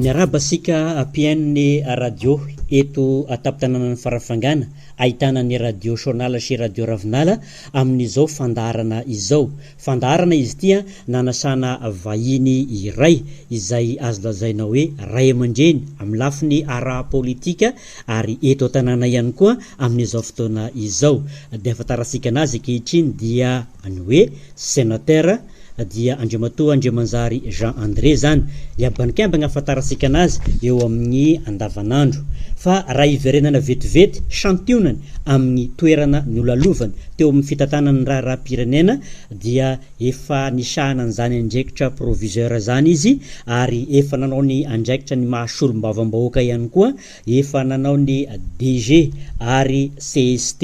Miarahaba antsika APN radio eto an-tampon-tanànan'i Farafangana, ahitana ny Radio Shonala sy Radio Ravinala amin'izao fandaharana izao. Fandaharana izy ity nanasana vahiny iray izay azo lazaina hoe ray aman-dreny amin'ny lafiny ara-politika ary eto an-tanàna ihany koa amin'izao fotoana izao. Dia ahafantarantsika an'azy ankehitriny dia ny hoe Senatera dia Andriamatoa Andriamanjary Jean André izany. Ny abanikambiny ahafantarantsika an'azy eo amin'ny andavanandro. Fa raha hiverenana vetivety, santionany amin'ny toerana nolalovany teo amin'ny fitantanana ny raharaham-pirenena dia efa nisahana an'izany andraikitra proviseur izany izy ary efa nanao ny andraikitra ny maha solombavambahoaka ihany koa, efa nanao ny DG ary cst,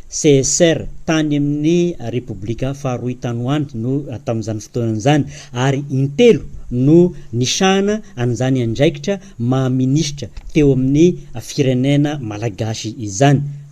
csr tany amin'ny Repoblika faharoy tany ho any no tamin'izany fotoana izany ary intelo no nisahana an'izany andraikitra maha minisitra teo amin'ny firenena malagasy izany.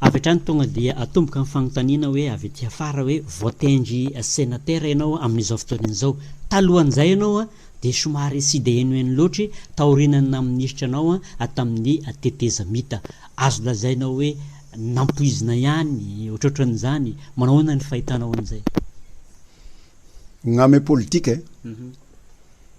Avy hatrany tonga dia atomboka ny fanontaniana hoe avy aty afara hoe voatendry senatera ianao amin'izao fotoana izao. Talohan'izay ianao dia somary tsy dia henoheno loatra taorian'ny naha minisitra anao tamin'ny tetezamita. Azo lazaina hoe nampoizina ihany ohatrohatran'izany. Manao ahoana ny fahitanao an'izay? Ngame politika e!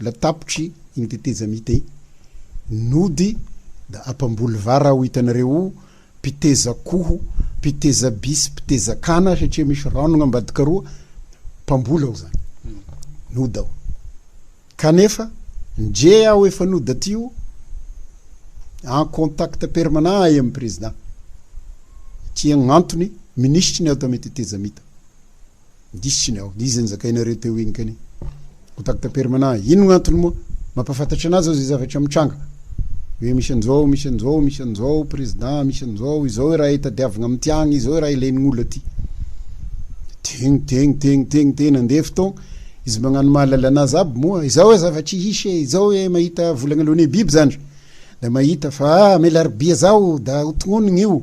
Mbola tapitry iny tetezamita iny nody da apamboly vara aho hitanareo o mpiteza akoho mpiteza bisy mpiteza kana satria misy ranogna ambadika roa mpamboly aho zany nody aho kanefa ndre aho efa nody aty o en contact permanent ahy am president satria gnantony minisitry ny ato amy tetezamita Diso iny aho. Dia izy nizakainareo teo iny kani. Contact permanent. Inona no antony moa? Mampahafantatra anazy aho izay zavatra mitranga. Hoe misy an'izao, misy an'izao, misy an'izao, président, misy an'izao, izao raha itadiavina amin'ity agny, izao raha ilain'olo aty. Tegny, tegny, tegny, tegny, tegny, nandeha fotoagna. Izy magnano mahalala anazy aby moa. Izao e zavatry hisy e, izao e mahita volagna alohan'ny biby zandry. Da mahita fa ah, Amelaribia zao da ho tognonigny io.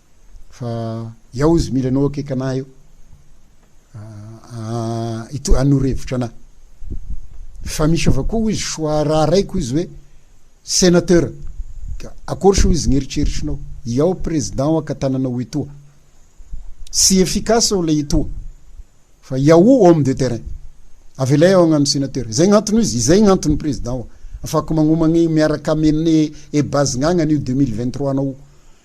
Fa iao izy mila anao akaiky anah eo ah hanoro hevitra anah. Fa misy avao koa hoy izy soa raharaiko izy hoe senateur ka akory soa izy ny eritreritrinao iao président aka tananao etoa sy efficace ao ilay etoa fa iao homme de terrain avelay ao agnano senateur izay ny antony izy izay ny antony président afako magnomagny miaraka amene ebazigna agnanio 2023 anao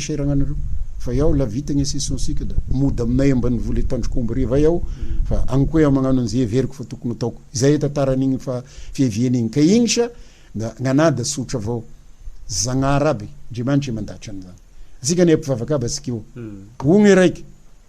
cher agnareo fa iaho la vita gne session sika da mody aminay ambanivolo eto tandrok'omby-riva ay aho fa agny koa iaho magnano an'ze heveriko fa tokony hataoko izay e tantaran'igny fa fiaviany igny ka igny sa da gn'anahy da tsotra avao Zagnahary aby Andriamanitra e mandahatra an'izany atsika anie mpivavaka aby atsika io o gne raiky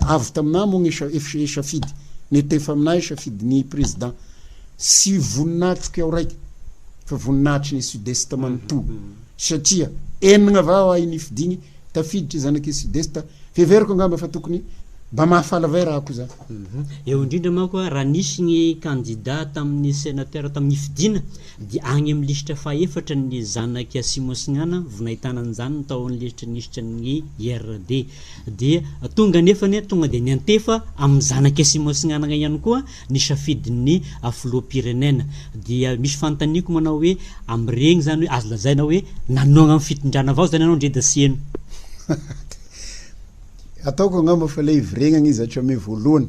Avy taminà moa ny safidy netefa aminà safidin'ny Président. Tsy voninahitriko aho raika fa voninahitry ny Sud-Est manontolo satria enina va ho ahy nifidiany tafiditra zanak'i Sud-Est. Heveriko angamba fa tokony mba mahafaly vay raha koa zany. Eo indrindra manko raha nisy ny kandida tamin'ny Sénateur tamin'ny nifidiana Dia agny amin'ny lisitra fahefatra ny zanak'i Asimosignana, vonahitana an'izany ny tao amin'ny lisitry ny lisitra ny IRD. Dia tonga anefa anie, tonga dia niantefa amin'ny zanak'i Asimosignana ihany koa ny safidin'ny filoham-pirenena. Dia misy fanontaniako manao hoe, amin'iregny zany hoe azo lazaina hoe nanohagna amin'ny fitondrana avao zany ianao ndre Dasieno? Ataoko angamba fa ilay hiviregnagna izy hatramin'ny voalohany.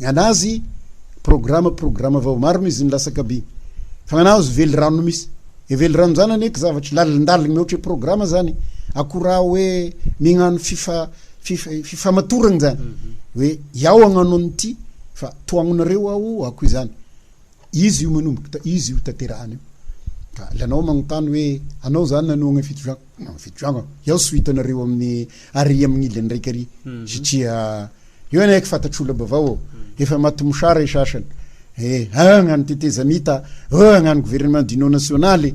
Ny anazy programa programa vao maro no izy ny lasaka by fa anazy velirano no misy e velirano zany anie zavatra lalindaliny mihoatra programa zany akora hoe mignano fifa fifamatoragna zany mhm. hoe iao agnano an'ity fa toagnonareo ao ako izany Izy io manomboka izy io tanterahana io ka lanao manontany hoe anao zany nanohagna fito juin non fito juin ka iao tsy ho hitanareo amin'ny ary amin'ny ilany raika ary satria eo ianao eky fatatr'olona bavao ô efa maty mosara i sasany eh agnano tetezamita ô agnano gouvernement d'union nationale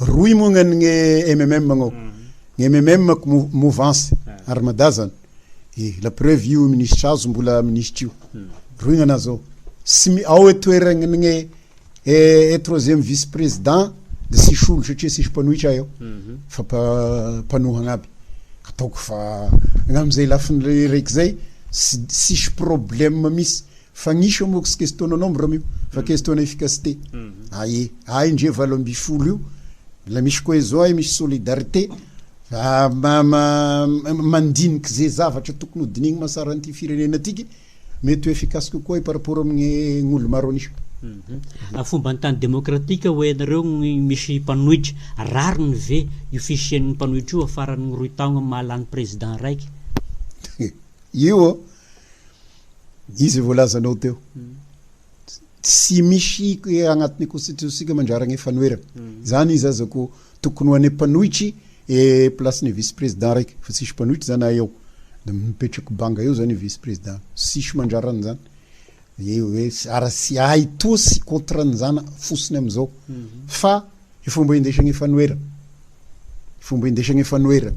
Rohy moa gna ny MMM gnao. Ny MMM mouvance ary Mada zany. E la preuve io minisitra azo mbola minisitra io. Rohy gnanah zao. Tsy mi ao e toeragny gne e troisième vice président de tsisy olo satria tsisy mpanohitra eo fa mpa mpanohagna aby. Ataoko fa gnamzay lafiny raiky zay tsy tsisy problème misy. Fa nisy eo mox question no nombre io fa question na efficacité ae ae ndre valo ambin'ny folo io la misy cohesion ae misy solidarité fa mandinika ze zavatra tokony ho dinihina masara an'ity firenena tiky mety ho efficace kokoa par rapport amin'ny olo maro anisa. Amin'ny fomban'ny tany demokratika hoe ianareo misy mpanohitra, rariny ve io fisian'ny mpanohitra io afaran'ny roy taogna maha lany président raiky? Io ô! Izy zay voalazanao teo. Tsy misy agnatin'ny constitution-tsika mandraragna fanoherana. Zany izy aza ko tokony ho ane mpanohitry e place-ny vice président raiky fa tsisy mpanohitry zany na eo. De mipetraky banga eo zany vice président. Tsisy mandrara an'zany. Eo hoe ara tsy ahy toa tsy contre an'zany fosiny am'zao. Fa fomba indesagna fanoherana. Fomba indesagna fanoherana.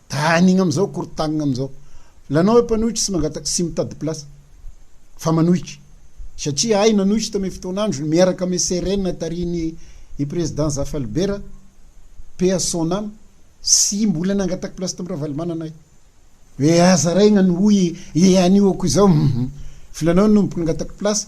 Dining amizao korotanigna amizao lanao hoe mpanohitra tsy mangataky tsy mitady place fa manohitra satria ahy nanohitra tame fotoana androny miaraka ame CRN tarihiny i président Zafalibera paix à son ame tsy mbola nangataky place tamy Ravalomanana ahy hoe aza raigna ny hoy i anio ako izao hum filanao no nampangatako place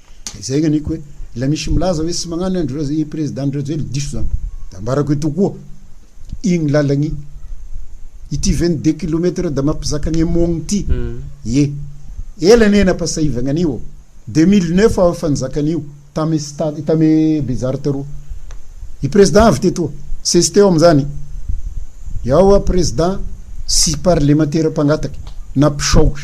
Izay ny aniko hoe ilay misy milaza hoe tsy magnano ny andry i président andry rajoely diso zany da ambarako eto koa igny lalagny ity 22 kilomètre da mampizaka ny amogny ity ye mm. ela ne napasahivagna anio 2009 aho efa nizaka anio tamy stade tamy bezary taroa i président avy tetoa sesy teo amizany yao a président sy parlemantera mpangataky na mpisaotra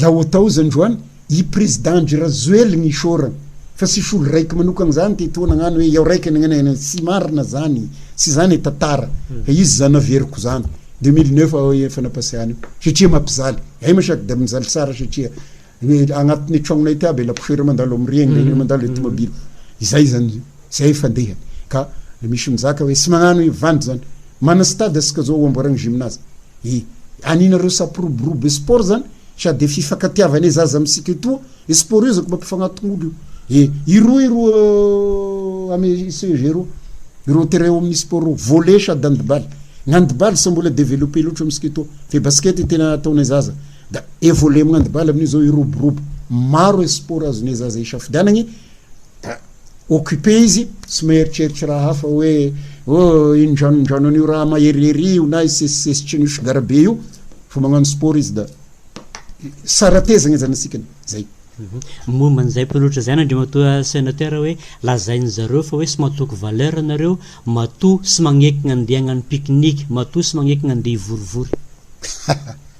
Laotao zany ro an i prezida andry rajoel ny isaorana fa sisy olo raiky manokana zany te to nagnano hoe iao raiky nagnanana tsy marina zany tsy zany e tantara fa izy zany naveriko zany deux mille neuf ao e fanapasehana io satria mampizaly ay masak de mizaly tsara satria agnatiny tragnona ity aby laposiera mandalo am regny regny mandalo e tomobily izay zany zay fandehany ka misy mizaka hoe tsy magnano io vandy zany mana stade asika zao amboaragna gymnase E! Aninareo sapiroborobo e sport zany sady e fifakatiavana e zaza misika etoa e sport io zako mampifanatongolo io e iroa iroa ame CEG ro ireo terrain ao amin'ny sport ro volley sady andibaly ny handibaly sa mbola developper loatra misika etoa fe basket tena ataonay zaza da e volley amin'ny handibaly amin'io zao iroborobo maro e sport azonay zaza isafidianagny occupé izy, tsy mieritreritra raha hafa hoe oh iny dranondranony io raha maherihery io na isesisesitriny io sigara be io fa magnano sport izy da saratezagna zany asikany zay mhm. momba an'izay mpiloatra izay na andriamatoa sénateur hoe lazain'ny zareo fa hoe sy matoky valeur nareo matoa sy magnekigna andeha hagnano pique-nique matoa sy magnekigna andeha hivorivory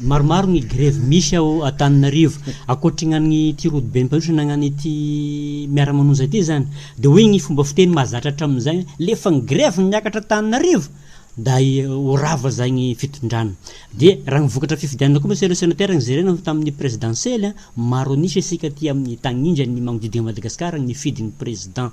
Maromaro ny grevy misy ao Antananarivo. Ankoatry ny an'ity rodoben'Mpandroso na ny an'ity Miara-manonja ity izany dia hoy ny fomba fiteny mahazatra hatramin'izay hoe lefa ny grevy no miakatra Antananarivo da ho rava izay ny fitondrana. Dia raha ny vokatra fifidianana koa mantsy ireo senatera ny jerena tamin'ny prezidansely, maro an'isa isika aty amin'ny tanindrany magnodidy an'i Madagasikara ny fidin'ny president.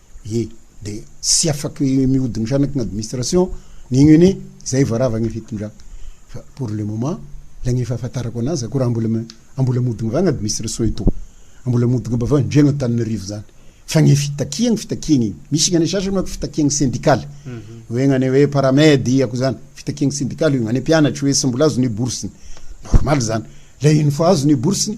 Ye dia tsy afaky mihodina shanaky ny administration ny uni zay vao rava ny fitondrana fa pour le moment lay ny fahafantarako anazy akory ambola ambola mihodina vany administration eto ambola mihodina mba vany ndreo Antananarivo zany fa ny fitakiany fitakiany iny misy ny sasany manko fitakiany sendikaly mhm. hoe ny hoe paramed ako zany fitakiany sendikaly io any mpianatry hoe sy mbola azo ny bourse ny normal zany lay iny fa azo ny bourse ny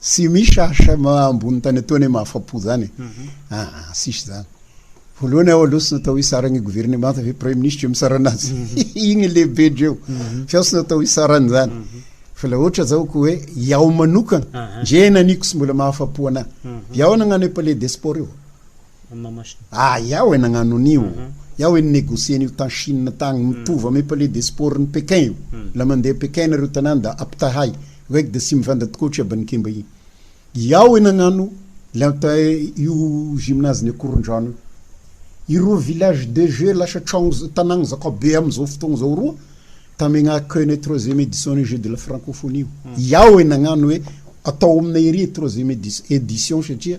Tsy misy asa ambony tany atoa anie mahafapo zany e. Aa tsisy zany. Voalohany aho aloha tsy natao hitsara ny governemanta ve praiminisitra io mitsara anazy. Igny lehibe dreo. Fa aho tsy natao hitsara an'izany. Fa la ohatra zao ko hoe iaho manokana, ndre naniko tsy mbola mahafapo anahy. Iaho nagnano e palais des sports io. amin'ny maha machine. Ah yao e nagnano an'io, yao e ni-negocier an'io tany Chine tagny, mitovy amy palais des sports ny Pékin io, la mandeha Pékin nareo tanagny da ampitahay, raiky da tsy mivandra tokoa ohatry Aban'Ikemba igny. Yao e nagnano le anta io gymnase ny Akorondrano io. Ireo village de jeux lasa tragno za tanagny zakabe am'izao fotoagna zao roa, tamegna accueil nay troisième édition ny jeux de la francophonie io. Yao e nagnano hoe atao aminay ery troisième édition satria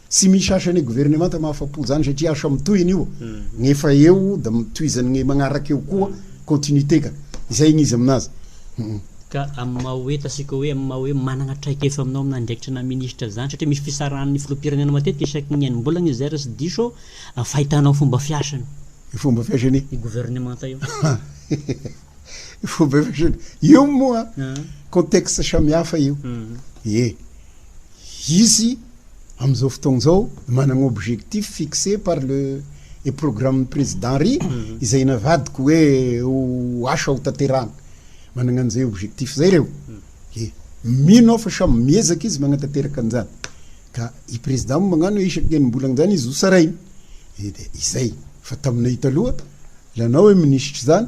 Tsy misy asa ny governemanta mahafapo zany satria asa mitohy anio ny efa eo da mitohizany ny magnaraka eo koa continuité ka izay ny izy aminazy hum. Ka amin'ny maha hoe tatsika hoe amin'ny maha hoe managna traikefa aminao amin'ny andraikitry na ministra zany satria misy fisarahan'ny filoham-pirenena matetika isaky ny enim-bolagna izay raha tsy diso aho amin'ny fahitanao fomba fiasany. Ny fomba fiasany? Io governemanta io. Ny fomba fiasany? Io moa contexte samihafa io. Ie. Izy amin'izao fotoana izao manana objectif fixé par le et programme ny Président Ry izay navadiko hoe ho asa ho tanterahana. Manana an'izay objectif izay ireo. Dia mino aho fa samy miezaka izy manatanteraka an'izany. Ka i Président moa mañano hoe isaky ny enim-bolana izany izy ho sarainy. Dia izay. Fa taminay taloha, ilay anao hoe Minisitra izany,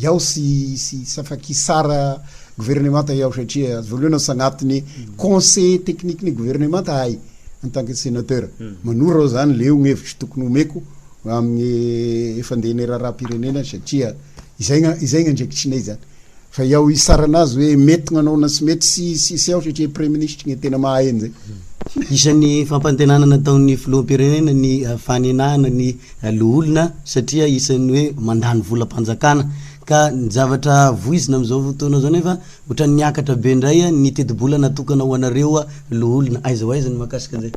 Yao sy sy Safaki Sara governemanta yao satria azo voaloana sy agnatiny conseiller technique ny governemanta ahy en tant que senateur hmm. manoro aho zany leo ny hevitro tokony homeko amin'ny efa ndeha ny raharaham-pirenena satria izay izay ny andraikitrinay zany fa yao isarana azy hoe mety gnanaona sy mety sy sy sy ao satria prime ministre ny tena mahay an'izay hmm. isan'ny fampantenana nataon'ny filoham-pirenena ny fanenana ny loholona satria isan'ny hoe mandany volam-panjakana ka ny zavatra voizina amin'izao fotoana izao nefa ohatran'ny niakatra be indray ny tetibola natokana ho anareo loholona, aiza ho aiza ny mahakasika an'izay?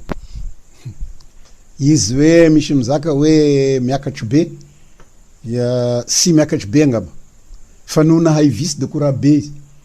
Izy hoe misy mizaka hoe miakatry be dia tsy miakatry be angamba fa noho nahay vice de courage be izy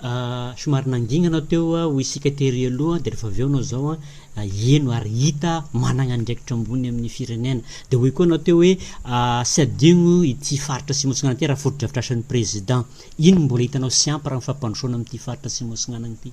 Ah, somary nangina anao teo ah, hoy isika tery aloha, dia rehefa avy eo anao izao an, heno ary hita ah, managna andraikitra ambony amin'ny firenena. Dia hoy koa anao teo hoe, ah, tsy hadigno ity faritra Atsimo Atsinanana ity raha fotodrafitrasan'ny Président. Inona no mbola hitanao tsy ampy raha ny fampandrosoana amin'ity faritra Atsimo Atsinanana ity?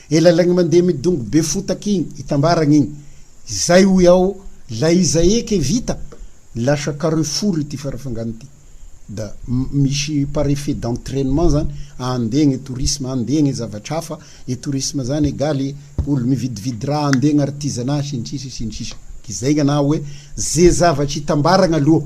Ela ilay mandeha midongy be fotaka iny itambaragna iny izay hoy aho la iza eky vita lasa carrefour ity farafangana ity da misy par effet d'entrainement zany andeha ny tourisme andeha ny zavatra hafa ny tourisme zany egaly olo mividividy raha andeha ny artisanat sy ny sisa sy ny sisa k'izay ny anahy hoe ze zavatra itambaragna aloha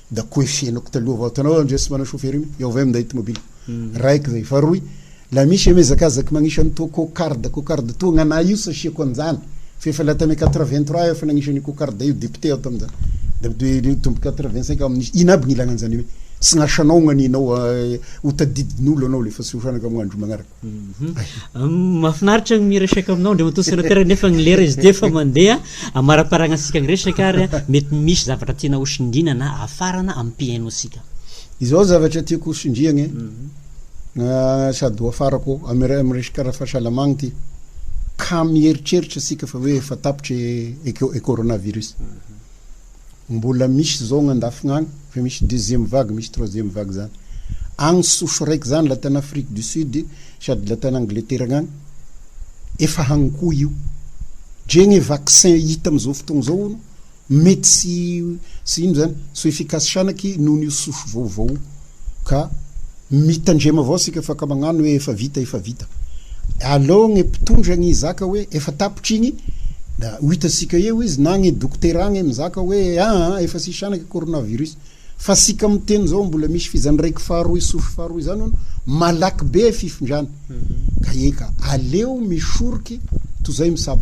da ko efa henoko taloha vao hitanao aho ndre tsy manao chauffeur iny eo avy minday tomobile raiko zay fa roy la misy ame zakazaky magnisy any toa cocarde cocarde toa gnanay io sasiako anjany fa efa la tame quatre vingt trois aho efa nagnisy an'io cocarde io député aho tamin'izany da de tombo quatre vingt cinq aho amin'izy ina aby gn'ilagna an'izany hoe tsy gn'asanao gn'aninao eh, hotadidin'olo anao le fa tsy ho sanaka amy gn'andro magnaraka Mhm. Mafinaritra ny miresaka aminao Andriamatoa Sénateur nefa ny lera izy dia fa mandeha amaraparagna antsika ny resaka ary mety misy zavatra tiana ho sindriana na afarana amin'ny piaino antsika. Izao zavatra tiako ho sindriagna e. Mhm. Ah, sady ho afarako amin'ny amin'ny resaka ara-fahasalamagna ty. Ka mieritreritra antsika fa hoe efa tapitra e, e coronavirus. Mhm. Mbola misy zao agny andafigny agny efa misy deuxième vague misy troisième vague zany agny souche raiky zany la tany Afrique du Sud sady la tany Angleterre agny efa agny koa io dre gne vaccin hita amizao fotoagna zao hono mety sy ino zany so efficace shanaky noho io souche vaovao io. ka mitandrema avao sika fa ka magnano hoe efa vita efa vita aleo gne mpitondra gne hizaka hoe efa tapitra igny da ho hitasika eo izy na gne dokotera gne mizaka hoe aa ah, efa sisy anake coronavirus fa sika miteny zao mbola misy f'izany raiky faharoy sofy faharoy zany hono malaky be fifindrany mhm. ka eka aleo misoroky tozay misabo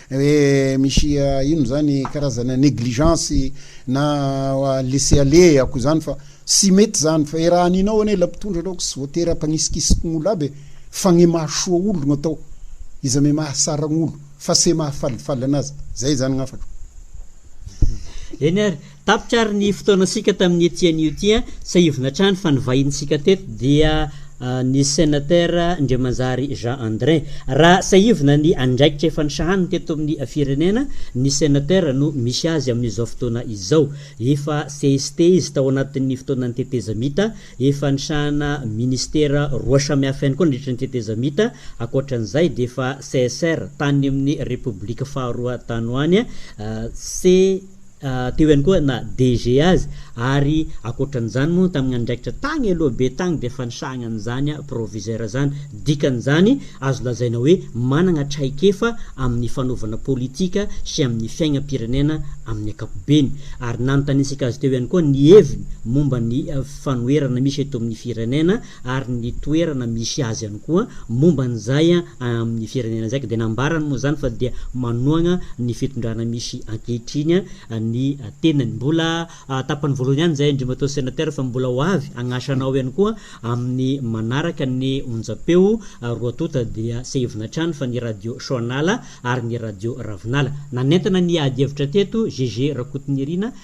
Re misy inona zany karazana negligence na laisser aller ako izany fa tsy mety izany fa e raha aninao anie ilay mpitondra aloha tsy voatery hampanisikisikin'olo aby e fa gne mahasoa olo no atao iza me mahasaragn'olo fa se mahafalifaly anazy zay zany gn'afako Eny ary. Tapitra ary ny fotoanantsika tamin'ity tianio ity a! Tsiahivina hatrany fa nivahinintsika teto dia ny Senatera Ndriamanjary Jean Andrin. Raha tsiahivina ny andraikitra efa nisahaniny teto amin'ny firenena, ny Senatera no misy azy amin'izao fotoana izao. Efa CST izy tao anatin'ny fotoanan'ny tetezamita, efa nisahana Ministera roa samihafa ihany koa nandritra ny tetezamita, ankoatran'izay dia efa CSR tany amin'ny Repoblika faharoa tany ho any, C. teo ihany koa na DG azy ary ankoatran'izany moa tamin'ny andraikitra tagny aloha be tagny dia efa nisahagna an'izany proviseur zany, dikan'izany azo lazaina hoe managna traikefa amin'ny fanaovana politika sy amin'ny fiaignam-pirenena amin'ny ankapobeny ary nanontaniantsika azy teo ihany koa ny heviny momba ny fanoherana misy eto amin'ny firenena ary ny toerana misy azy ihany koa momba an'izay amin'ny firenena izay ka dia nambarany moa izany fa dia manohagna ny fitondrana misy ankehitriny ny tenany. Mbola tapany voalohany ihany izay Andriamatoa Sénateur fa mbola ho avy hagnasa anao ihany koa amin'ny manaraka ny onjam-peo roa tonta dia sehivina hatrany fa ny radio Soanala ary ny radio Ravinala. Nanentana ny ady hevitra teto GG Rakotonirina